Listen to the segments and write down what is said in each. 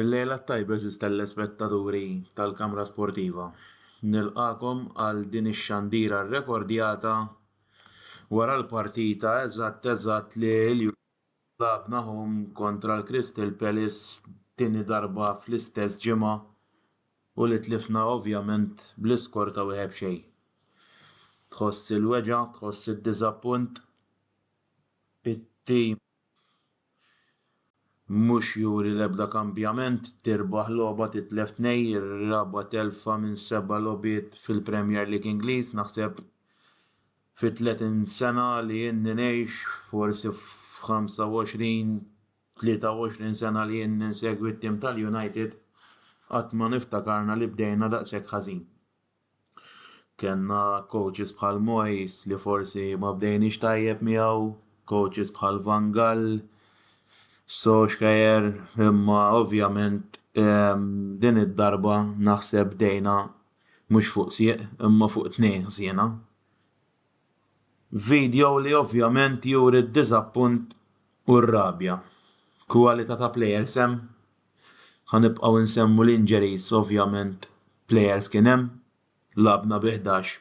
Il-lejla t-tajba eżiż telespettaturi tal-Kamra Sportiva. Nilqakom għal din ix-xandira rrekordjata wara l-partita eżatt eżatt li l Lagħabnahom kontra l-Crystal Palace tieni darba fl-istess ġimgħa u li tlifna ovvjament bl-iskor ta' wieħed b'xejn. Tħoss il-weġgħa, tħoss id-diżappunt. It-tim mhux juri l-ebda kambjament, tirbaħ logħba titlef tnejn, ir-raba' telfa minn seba' logħbiet fil-Premier League Ingliż naħseb. fit-tletin sena li ilni ngħix, forsi f'ħamsa u għoxrin, tlieta u għoxrin sena li ilni nsegwi t-tim tal-United, qatt ma niftakarna li bdejna daqshekk ħażin. Kellna coaches bħal Moyes li forsi ma bdejniex tajjeb miegħu, coaches bħal Van Gaal, Solskjaer, imma ovvjament din id-darba naħseb bdejna Mhux fuq sieq imma fuq tnejn ħżiena. Video li ovvjament juri d-diżappunt u r-rabja. Kwalità ta' players hemm. Ħa nibqgħu nsemmu l-injuries ovvjament players kien hemm. Lagħabna bi ħdax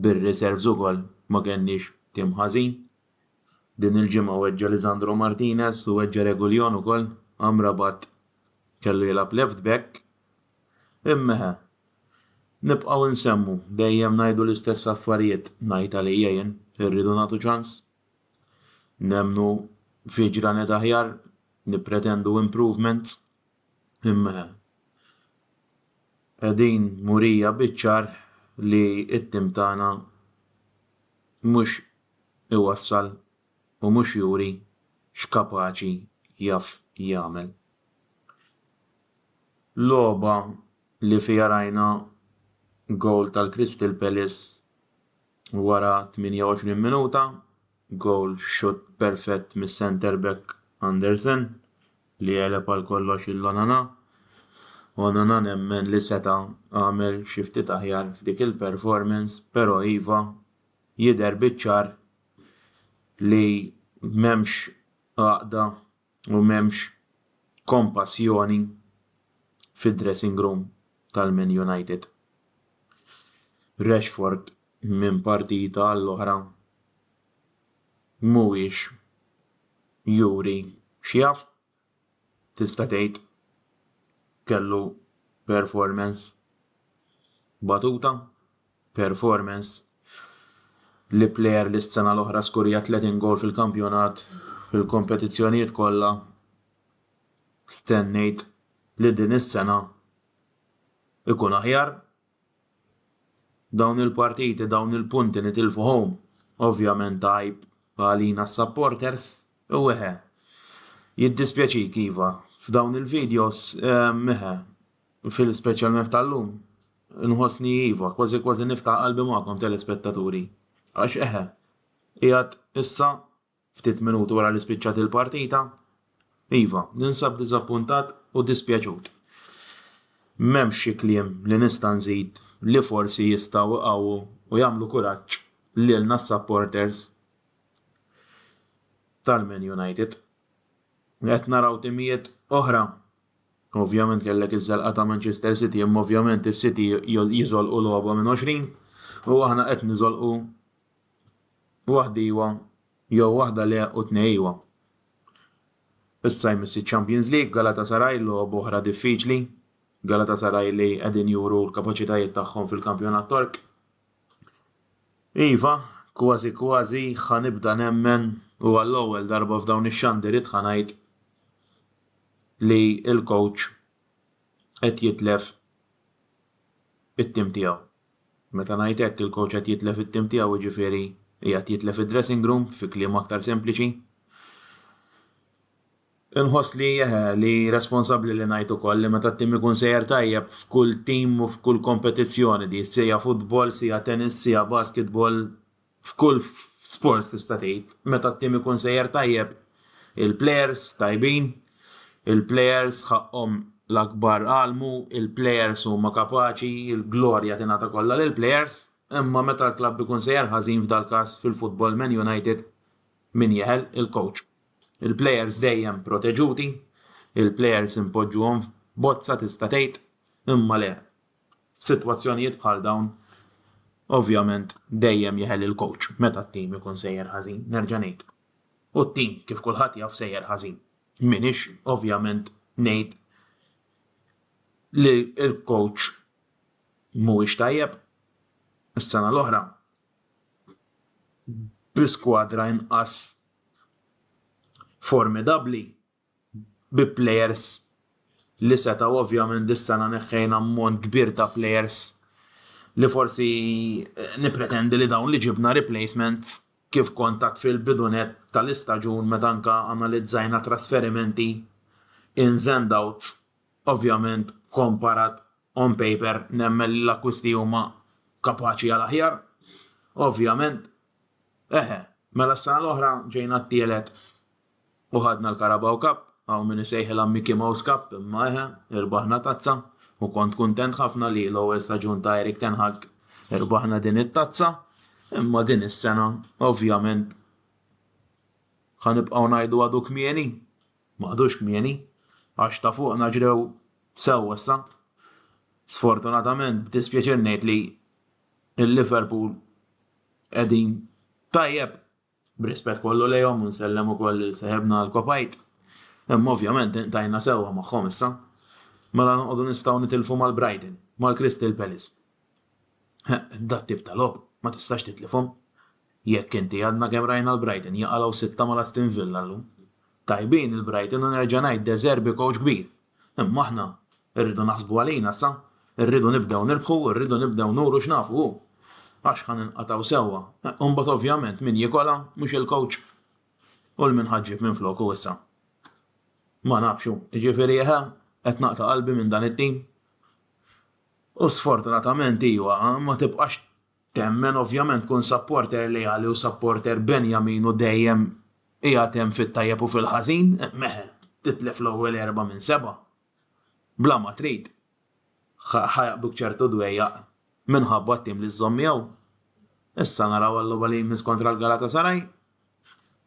bir-reserves ukoll ma kenniex tim ħażin. Din il-ġimgħa weġġa' Lisandro Martinez u weġġa' Reguilon ukoll, Amrabat kellu jilgħab left back. Immeħe. Nibqgħu nsemmu, dejjem ngħidu l-istess affarijiet, ngħid għalija jien, irridu nagħtu ċans. Nemmnu fi ġranet aħjar, nippretendu improvements. Immeħe. Qegħdin murija biċ-ċar li t-tim tagħna mhux iwassal u mhux juri x'kapaċi jaf jagħmel. Logħba li fiha rajna gowl tal-Crystal Palace wara 28 minuta, gowl b'shutt perfett mis-centre back Andersen li għeleb għal kollox lil Onana. Onana nemmen li seta' għamel xi ftit aħjar f'dik il-performance, però iva, jidher biċ-ċar li m'hemmx għaqda u m'hemmx kompassjoni fid-dressing room tal-Man United. Rashford minn partita għall-oħra mhuwiex juri x'jaf tista' tgħid kellu performance batuta, performance li plejer li s-sena l-oħra skurja 30 gowl fil-kampjonat fil-kompetizzjonijiet kollha stennejt li din is-sena ikun aħjar. Dawn il-partiti dawn il-punti nitilfuhom ovvjament għajb għalina s-supporters u eħe jiddispjaċik iva f'dawn il-videos eħe speċjalment f'tal-lum inħossni iva kważi kważi niftaħ qalbi magħkom telespettaturi għax eħe qiegħed issa Ftit minuti wara li spiċċat il-partita, iva, ninsab diżappuntat u dispjaċut. M'hemmx xi kliem li nista' nżid li forsi jistgħu iqawwu u jagħmlu kuraġġ lilna s-supporters tal-Man United. Qed naraw timijiet oħra Ovvjament kellek iż-żelqa ta' Manchester City, imma ovvjament is-City jiżolqu logħba minn 20 u aħna qed niżolqu Waħda iwa jew waħda le u tnej iwa. Issa jmiss iċ-Champions League, Galatasaray logħob oħra diffiċli. Galatasaray li qegħdin juru l-kapaċitajiet tagħhom fil-kampjonat Tork. Iva, kważi kważi ħa nibda nemmen u għall-ewwel darba f'dawn ix-xandiriet ħa ngħid li l-coach qed jitlef it-tim tiegħu. Meta ngħid hekk, il-kowċ qed jitlef it-tim tiegħu, jiġifieri qiegħed jitlef id-dressing room, fi kliem aktar sempliċi. Inħoss li, eħe, li responsabbli li ngħid ukoll li meta t-tim ikun sejjer tajjeb f'kull tim u f'kull kompetizzjoni, di siegħa futbol, siegħa tennis, siegħa basketball, F'kull sport tista' tgħid meta t-tim ikun sejjer tajjeb il-plejers tajbin, il-plejers ħaqqhom l-akbar għalmu, il-plejers huma kapaċi, il-glorja tingħata kollha lill-plejers, imma meta l-klabb ikun sejjer ħażin f'dal-każ fil-futbol Man United min jeħel? Il-kowċ. Il-plejers dejjem proteġuti, il-plejers inpoġġuhom f'bozza tista' tgħid, imma le, F'sitwazzjonijiet bħal dawn, ovvjament dejjem jeħel il-kowċ meta t-tim ikun sejjer ħażin, nerġa' ngħid. U t-tim, kif kulħadd jaf, sejjer ħażin. M'iniex, ovvjament, ngħid li l-kowċ mhuwiex tajjeb. Is-sena l-oħra, bi skwadra inqas formidabbli, bi plejers li setgħu ovvjament dis-sena neħħejna ammont kbir ta' plejers li forsi nippretendi li dawn li ġibna replacements kif kont għedt fil-bidu nett tal-istaġun meta anke analizzajna trasferimenti ins and outs ovvjament komparat on paper nemmen li l-akkwisti huma kapaċi għal aħjar ovvjament eħe mela s-sena l-oħra ġejna t-tielet. U ħadna l-Carabao Cup, hawn min isejħilha Mickey Mouse Cup imma eħe, irbaħna tazza u kont kuntent ħafna li l-ewwel staġun ta' Erik ten Hag irbaħna din it-tazza imma din is-sena ovvjament ħa nibqgħu ngħidu għadu kmieni, ma għadux kmieni, għax ta' fuqna ġrew sew issa. Sfortunatament b'dispjaċir ngħid li il-Liverpool qegħdin tajjeb B'rispett kollu lejhom u nsellem ukoll lil seħibna għall-kopajt. Imma ovvjament intajna sewwa magħhom issa. Mela noqogħdu nistgħu nitilfu mal-Brighton, mal-Crystal Palace. He, dat-tip ta' logħob ma tistax titlifhom. Jekk inti għadna kemm rajna l-Brighton jaqalgħu sitta mal-Aston Villa llum. Tajbin il-Brighton u nerġa' ngħid De Zerbi kowċ kbir. Imma aħna rridu naħsbu għalina sa, rridu nibdew nirbħu, rridu nibdew nuru x'nafu hu. Għax ħa ninqatgħu sewwa, u mbagħad ovvjament min jikolha mhux il-kowċ u 'l min ħa ġġib minfloku issa? Ma nafx hu, jiġifieri eħe qed naqta' qalbi minn dan it-tim. U sfortunatament iva, ma tibqax Temmen ovvjament tkun supporter leali u supporter Benjamin u dejjem qiegħed hemm fit-tajjeb u fil-ħażin, meh, titlef l-ewwel erbgħa minn sebgħa. Bla ma trid, ħa jaqbduk ċertu dwejjaq minħabba t-tim li żżomm miegħu. Issa naraw għal-logħba li jmiss kontra l-Galatasaray,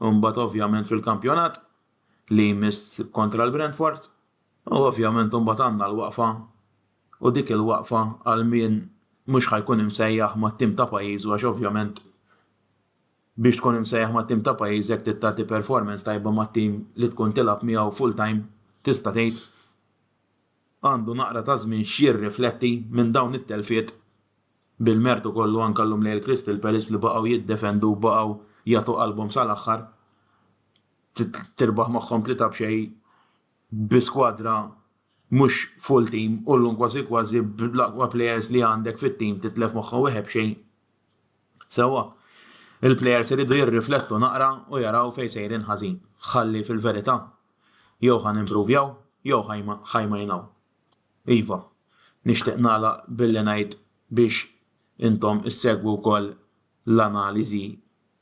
imbagħad ovvjament fil-kampjonat li jmiss kontra l-Brentford u ovvjament imbagħad għandna l-waqfa u dik il-waqfa għal min mhux ħa jkun imsejjaħ mat-tim ta' pajjiżu għax ovvjament biex tkun imsejjaħ mat-tim ta' pajjiżek trid tagħti performance tajba mat-tim li tkun tilgħab miegħu full time tista' tgħid għandu naqra ta' żmien x'jirrifletti minn dawn it-telfiet bil-mertu kollu anke llum lejl Crystal Palace li baqgħu jiddefendu u baqgħu jagħtu qalbhom sal-aħħar tirbaħ magħhom tlieta b'xejn bi skwadra mhux full team u llum kważi kważi bl-aqwa players li għandek fit-team titlef moħħ u wieħed b'xejn. Sewwa, il-players iridu jirriflettu naqra u jaraw fejn sejrin ħażin. Ħalli fil-verità, jew ħa nimpruvjaw jew ħa jmajnaw. Iva, nixtieq nagħlaq billi ngħid biex intom issegwu wkoll l-analiżi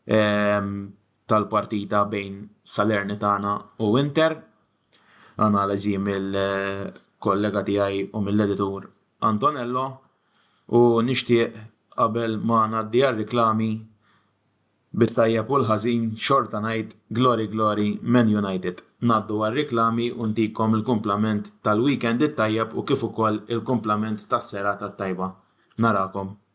tal-partita bejn Salernitana u Inter. Analiżi mill-kollega tiegħi u mill-editur Antonello u nixtieq qabel ma ngħaddi għar-riklami bit-tajjeb u l-ħażin xorta ngħid Glory Glory Man United. Ngħaddu għar-riklami u ntikom il-kumplament tal-weekend it-tajjeb u kif ukoll il-kumplament tas-serata t-tajba. Narakom.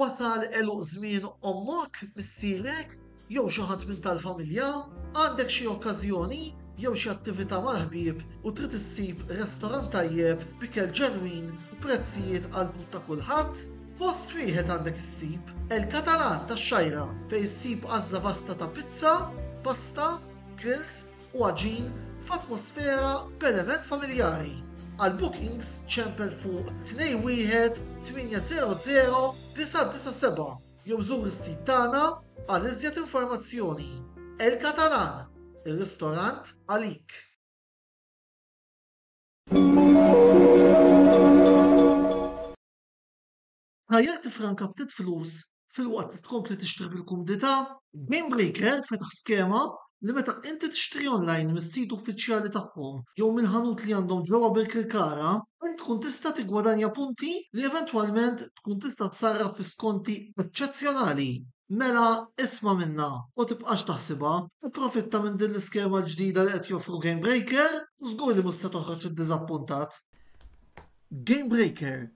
Wasal għeluq żmien ommok, missierek, jew xi ħadd minn tal-familja? Għandek xi okkażjoni jew xi attività mal-ħbieb u trid issib restorant tajjeb b'ikel ġenwin u prezzijiet għall-but ta' kulħadd? Post wieħed għandek issib, El Catalan tax-Xgħajra, fejn issib għażla vasta ta' pizza, pasta, grills, u għaġin f'atmosfera b'element familjari. Għal bookings ċempel fuq 21 800 997 jew żur is-sit tagħna għal iżjed informazzjoni. El Catalan, ir-ristorant għalik. Tajjeb tiffranka ftit flus filwaqt li tkompli tixtri bil-kumdità. GameBreaker fetaħ skema li meta inti tixtri online mis-sit uffiċjali tagħhom jew minn ħanut li għandhom ġewwa Birkirkara, int tkun tista' tiggwadanja punti li eventwalment tkun tista' ssarraf fi skonti eċċezzjonali. Mela isma' minnha u tibqax taħsibha, ipprofitta minn din l-iskema l-ġdida li qed joffru GameBreaker u żgur li mhux se toħroġ iddiżappuntat. GameBreaker,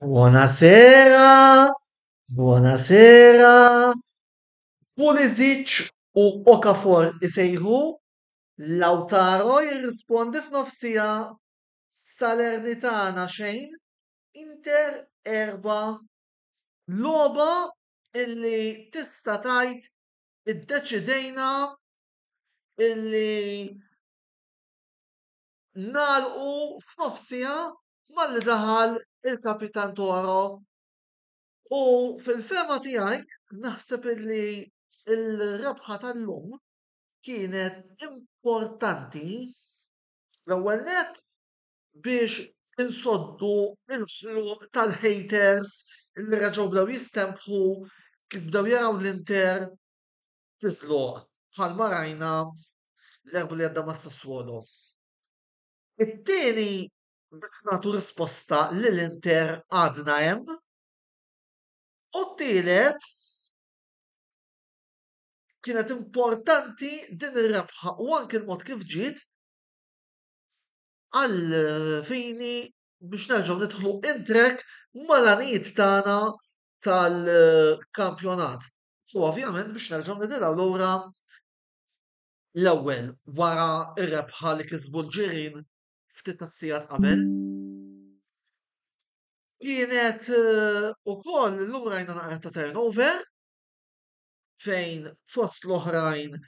Buonasera, buonasera. Pulisic u Okafor isejħu, Lautaro jirrispondi f'nofsija Salernitana xejn, Inter erba'. Logħba illi tista' tgħid iddeċidejna illi nagħlqu f'nofsija malli daħal il-kapitan Toro. U fil-fema tiegħi naħseb illi il-rebħa tal-lum kienet importanti l-ewwel nett biex insoddu l-ħluq tal-haters li reġgħu bdew jistempħu kif bdew jaraw l-Inter tiżloq bħalma rajna l-Erbgħa li għadda mas-Sassuolo. It-tieni biex nagħtu risposta li l-Inter għadna hemm u t-tielet kienet importanti din ir-rebħa u anke l-mod kif ġiet għal fini biex nerġgħu nidħlu in trek mal-għanijiet tagħna tal-kampjonat. U ovvjament biex nerġgħu nitilgħu lura l-ewwel wara r-rebħa li kisbu l-ġirin ftit tas-sigħat qabel. Kienet eh, ukoll lura jna naqra ta' turnover fejn fost l-oħrajn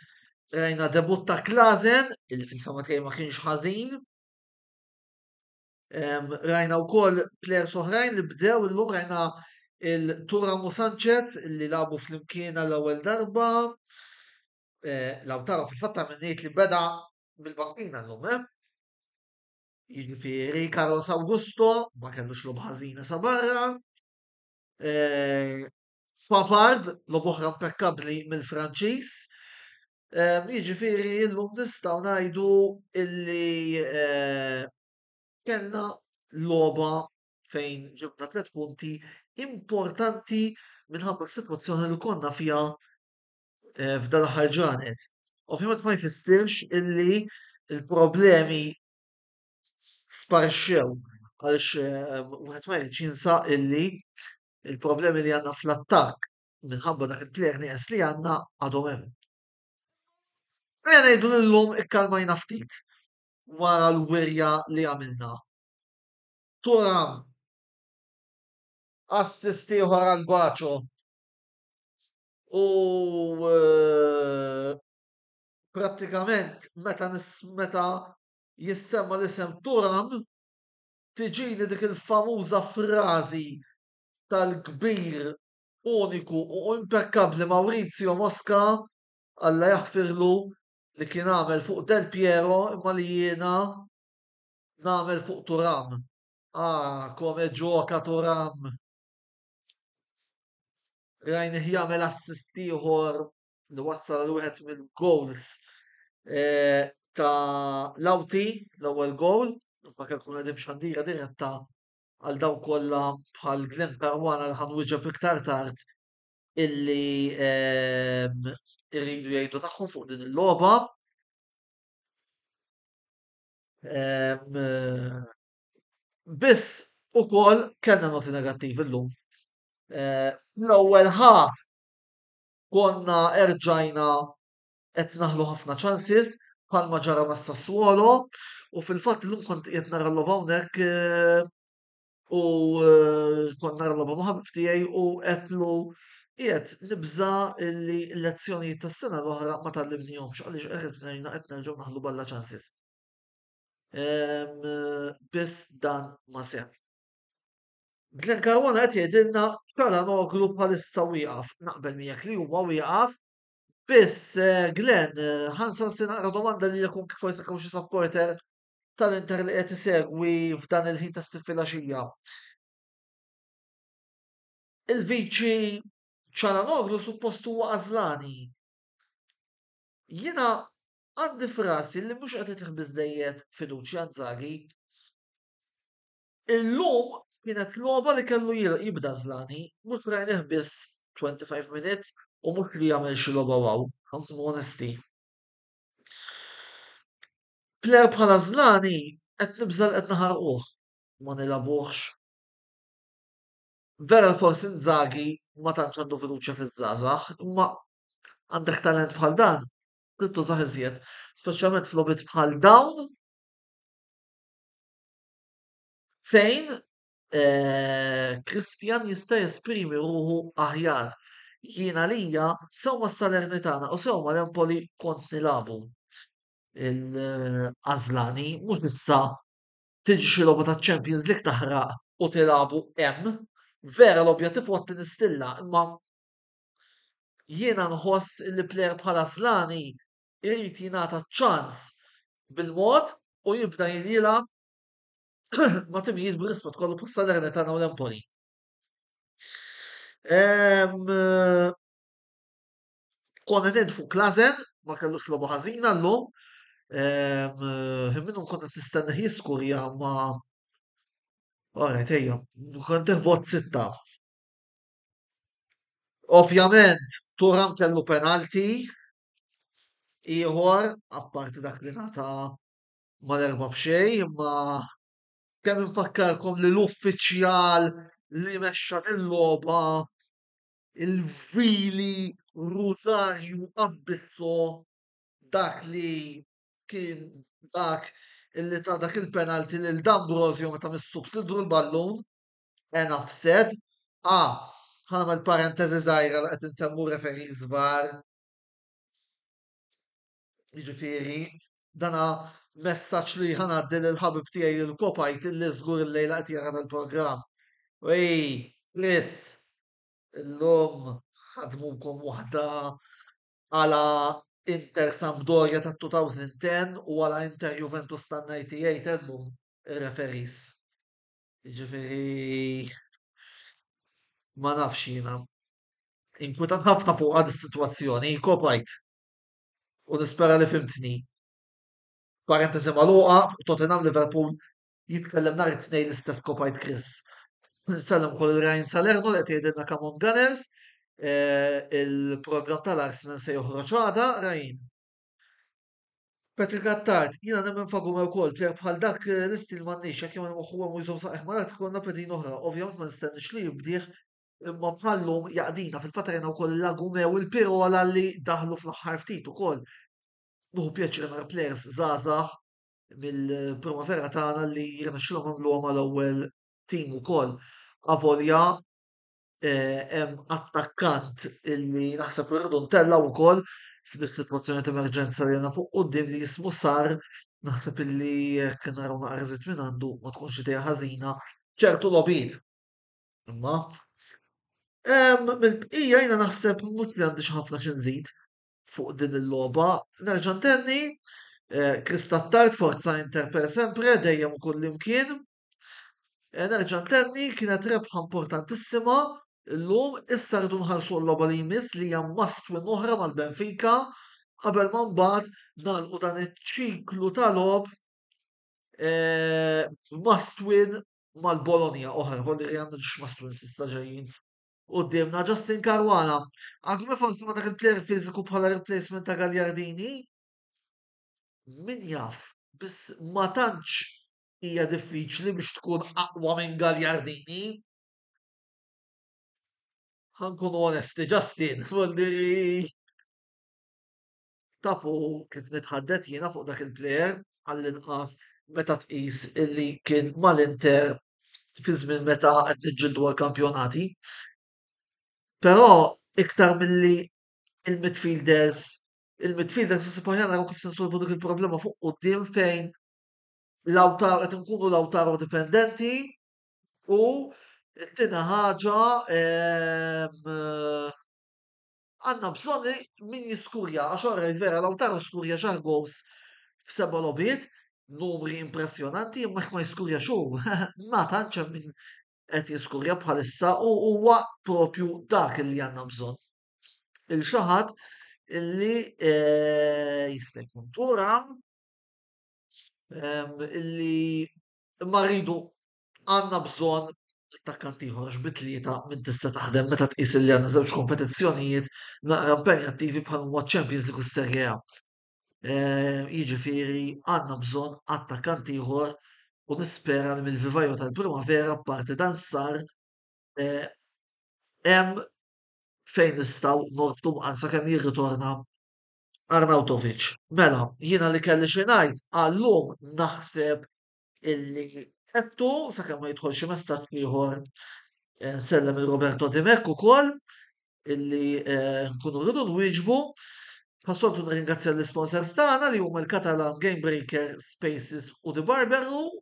rajna debut ta' Klazen, il fil-fama tiegħi ma kienx ħażin. Rajna wkoll plers oħrajn li bdew illum rajna il-Tura Musanċez li labu fl-imkien għall-ewwel darba. Eh, Lautaro fil-fatta minnejt li beda mill-bankina l-lum, eh? Jiġifieri Carlos Augusto ma kellux lob ħażina sa barra. Eh, Pavard, logħob oħra impekkabbli mill-Franċiż. Ehm, jiġifieri illum nistgħu ngħidu illi eh, kellna logħba fejn ġibna tliet punti importanti minħabba s-sitwazzjoni li konna fiha eh, f'dan l-aħħar ġranet. Ovvjament ma jfissirx illi il-problemi sparxew għaliex eh, wieħed ma jinsaq illi Il-problemi li għandna fl-attakk minħabba dak il-player nieqes li għandna għadhom hemm. Ejja ngħidu li llum ikkalmajna ftit wara l-wirja li għamilna. Turam assist ieħor għal Gwaċo u eh, prattikament meta meta jissemma l-isem Turam tiġini dik il-famuża frażi tal-kbir, uniku u impekkabbli Maurizio Mosca, Alla jaħfirlu, li kien għamel fuq Del Piero imma li jiena nagħmel fuq Thuram. Ah, come gioca Thuram! Rajnih jagħmel assist ieħor li wassal għal wieħed mill-goals eh, ta' Lauti, l-ewwel goal, fakar kun għedim xandira diretta għal daw kollha bħal Glenn Parwana li ħanwiġeb iktar tard illi eh, irridu jgħidu tagħhom fuq din il-logħba. Eh, biss ukoll kellna noti negattivi llum. L-ewwel ħaf konna erġajna qed naħlu ħafna ċansis bħalma ġara ma' Sassuolo u fil-fatt illum kont qed nara l-logħba hawnhekk eh, u eh, kont nara l-logħba ma' ħabib tiegħi u qedlu qiegħed nibża li l-lezzjonijiet tas-sena l-oħra ma tallimnihomx għaliex erġajna qed nerġgħu naħlu balla ċansis. Ehm, biss dan ma seħħ. Glenn Caruana qed jgħidilna Çalhanoğlu bħalissa wieqaf. Naqbel miegħek li huwa wieqaf. Biss eh, Glenn, eh, ħansan se naqra domanda li jkun kif forsi kemm xi supporter tal-Inter li qed isegwi f'dan il-ħin tas-siffilaxija. Il-viċi Çalhanoğlu suppost huwa għażlani. Jiena għandi frasi li mhux qed itih biżejjed fiduċja Inzaghi. Illum kienet logħba li kellu jibda Zlani, mhux rajnih biss 25 minutes u mhux li għamel xi logħba wow, ħa nkunu onesti. Player bħala Zlani qed nibża' li qed naħarquh, ma nilgħabuhx. Vera li forsi Inzaghi ma tantx għandu fiduċja fiż-żgħażagħ, imma għandek talent bħal dan trid tużah iżjed, speċjalment f'logħbiet bħal dawn. fejn eh, Kristjan jista' jesprimi ruħu aħjar. Jiena lija sewwa s-Salernitana u sewwa l-Empoli kont nilabu. Il-Azlani mhux issa tiġi xi logħba ta' Champions League taħraq u tilabu hemm. Vera l-objettiv huwa tinistilla, imma jiena nħoss li plejer bħala Azlani irid jingħata ċans bil-mod u jibda jilgħab ma' timijiet bl-ismat kollu bħal Salernitana u l-Empoli. Konna ned fuq Klazen, ma kellux lobu ħażina l-lum. Minnu konna t-nistenna jiskurja ma. Ora, tejja, konna vot sitta. Ovvjament, Turam kellu penalti, ieħor apparti dak li nata mal-erba' b'xejn, imma kemm infakkarkom li l-uffiċjal li mexxa l-logħba il-vili Rosario Abbisso dak li kien dak li ta dak il-penalty lil D'Ambrosio meta missu b'sidru l-ballun. enough said. Ah, ħanagħmel parentesi żgħira li qed insemmu referee żgħar. Jiġifieri, dana messaġġ li ħanaddi lil ħabib tiegħi il kopajt li żgur il-lejla qed jara il-programm. Ej, Chris, illum ħadmukom waħda għala Inter Sampdoria ta' 2010 u għala Inter Juventus tan-98 illum ir-referees. Jiġifieri ma nafx jiena. Inkwitat ħafna fuqha dis-sitwazzjoni, kopajt. U nispera li fhimtni. Parentesi magħluqa, fuq Tottenham Liverpool jitkellem nhar it-Tnejn l-istess kopajt Chris. Nsellem ukoll lil Ryan Salerno li qed jgħidilna come on Gunners. Eh, il-programm tal-Arsenal se joħroġ għada, Ryan. Patrick Attard, jiena nemmen fagume wkoll, plejat bħal dak eh, l-istil m'għandniex, jekk jagħmel moħħu hemm u jżomm saqajh marat ikollna pedin oħra, ovvjament ma nistennix li jibdih, imma bħallum jaqdina fil-fatt rajna wkoll l-Agume u l-Pirola li daħlu fl-aħħar ftit ukoll. Nuħu pjaċir nara players żgħażagħ mill-primavera tagħna li jirnexxilhom għamluhom għal ewwel tim ukoll. Avolja eh, hemm attakkant illi naħseb irridu ntellgħu wkoll f'dis sitwazzjoni ta' emerġenza li għandna fuq quddiem li jismu sar naħseb illi jekk naraw naqra żied minn għandu ma tkunx idea ħażina ċertu logħbiet. Imma mill-bqija jiena naħseb mhux li għandix ħafna xi nżid fuq din il-logħba. Nerġa' ntenni eh, Kristattart forza Inter per sempre dejjem kull imkien. Eh, nerġa' ntenni kienet rebħa importantissima illum issa rridu nħarsu l-logħba li jmiss li hija must win oħra mal-Benfica qabel ma mbagħad nagħlqu dan iċ-ċiklu ta' logħob eh, must win mal-Bologna oħra, kolli li għandna must win s'issa ġejjin. Qudiemna Justin Karwana, għagħu forsi ma dak il-player fiżiku bħala replacement ta' Gagliardini? Min jaf, biss ma tantx hija diffiċli biex tkun aqwa minn Gagliardini. Ħankun onesti, Justin, li tafu kif nitħaddet jiena fuq dak il-plejer għall-inqas meta tqis illi kien mal-Inter fi żmien meta qed niġġieldu għall-kampjonati. Però iktar milli il-midfielders il-midfielders nisibħu jaraw kif se nsolvu dik il-problema fuq quddiem fejn l-awtar qed nkunu l-awtar dipendenti u t-tina ħaġa ehm, għanna bżonni min jiskurja, għax orra vera l-awtar skurja ġar gows f'seba lobiet, numri impressionanti, imma ma jiskurja xu, ma tanċa min qed jiskurja bħalissa u huwa propju dak li għanna bżon. Il-xaħat illi eh, jistek turam illi ma rridu għandna bżonn attakkant ieħor għax bi tlieta minn tista' taħdem meta tqis li għandna żewġ kompetizzjonijiet naqra impenjattivi bħal huma ċ-Champions League u s-Serie A. Eh, jiġifieri għandna bżonn attakkant ieħor u nispera li mill-vivajo tal-primavera parti dan sar eh, hemm fejn nistgħu nortu mqansa kemm jirritorna Arnautovic. Mela, jiena li kelli xi ngħid għallum naħseb illi għedtu sakemm ma jidħol xi messaġġ ieħor eh, nsellem il Roberto Dimek ukoll illi eh, nkunu rridu nwieġbu. Passoltu nirringrazzja l-sponsors tagħna li huma l-Catalan Game Breaker, Spaces u The Barber Room.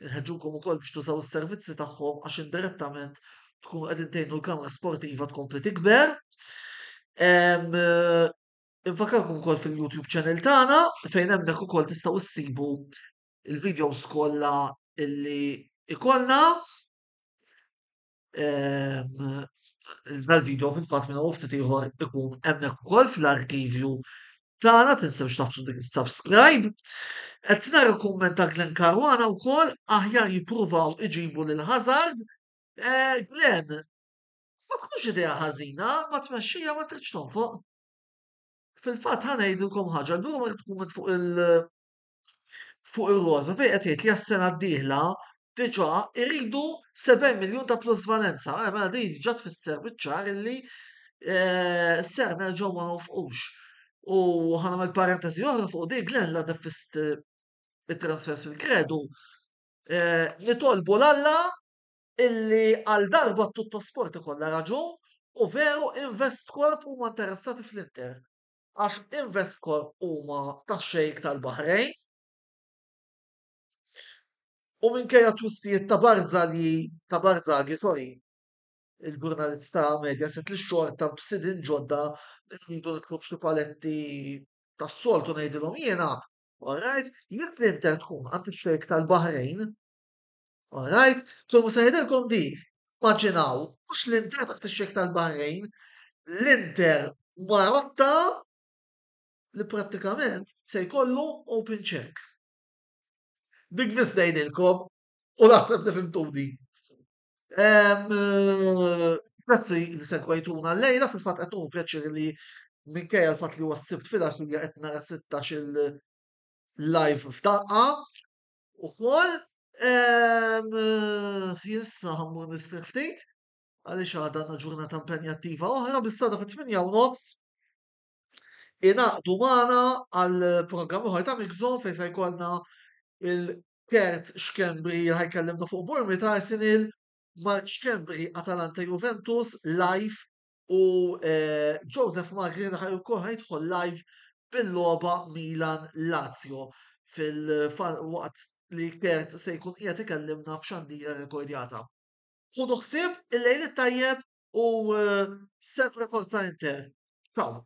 Inħeġġukom ukoll biex tużaw is-servizzi tagħhom għax indirettament tkunu qegħdin tgħinu l-kamra sportiva tkompli tikber. Infakarkom ukoll fil-YouTube channel tagħna fejn hemmhekk ukoll tistgħu ssibu il-videos kollha illi ikollna. dal-video fil-fatt minn ftit ieħor ikun hemmhekk ukoll fl-arkivju tagħna tinsewx tafsu dik is-subscribe. Qed nara kumment ta' Glenn Caruana wkoll aħjar jippruvaw iġibu lil Hazard. Eh, Glenn, ma tkunx idea ħażina, ma tmexxija ma tridx tonfoq. Fil-fatt ħanejdilkom ħaġa, l-lum qed tkun fuq il- fuq ir-roża fejn qed jgħid li għas-sena d-dieħla diġà iridu 70 miljun ta' plusvalenza. Eh, mela din diġà tfisser biċ-ċar illi eh, ser nerġgħu ma nofqux. U ħanam il-parentesi oħra fuq dik Glenn la defist eh, it-transfers fil-kredu. Nitolbu l-Alla illi għal darba t-tuttosport ikollha raġun u veru invest korp huma interessati fl-Inter. għax Investcorp huma tax-Xejk tal-Baħrejn u minkejja t-twissijiet ta' Barzagli, ta' Barzaghi, sorry, il-ġurnalist ta' Mediaset li xorta b'sidin ġodda rridu nidħlu f'xi paletti tas-soltu ngħidilhom jiena, alright, jekk l-Inter tkun għand ix-Xejk tal-Baħrejn, All right? So mhux se ngħidilkom di, immaġinaw, mhux l-Inter ma tixxek tal-Bahrejn, l-Inter Marotta li prattikament se jkollu open check. Dik biss ngħidilkom u naħseb li fimtuni. Eh, grazzi li segwajtuna l-lejla fil-fatt qed tkun pjaċir li minkejja l-fatt li huwa s-sibt fil-għaxija qed nara 16 il-live f'daqqa. ukoll. Issa ħammur nistrieħ ftit għaliex għadha għandna ġurnata impenjattiva oħra bis-sada fit-8 u nofs inaqdu magħna għal programm oħra ta' Mixon fejn se jkollna il-Kert Xkembri ħajkellimna fuq Burmi ta' Arsenal, Mark Xkembri Atalanta Juventus live U Joseph Magri ħaj ukoll ħajdħol live bil-logħba Milan Lazio fil-waqt li Kert se jkun qiegħed ikellimna f'xandira rekordjata. Ħudu ħsieb il-lejl it-tajjeb u sempre forza Inter. Ciao.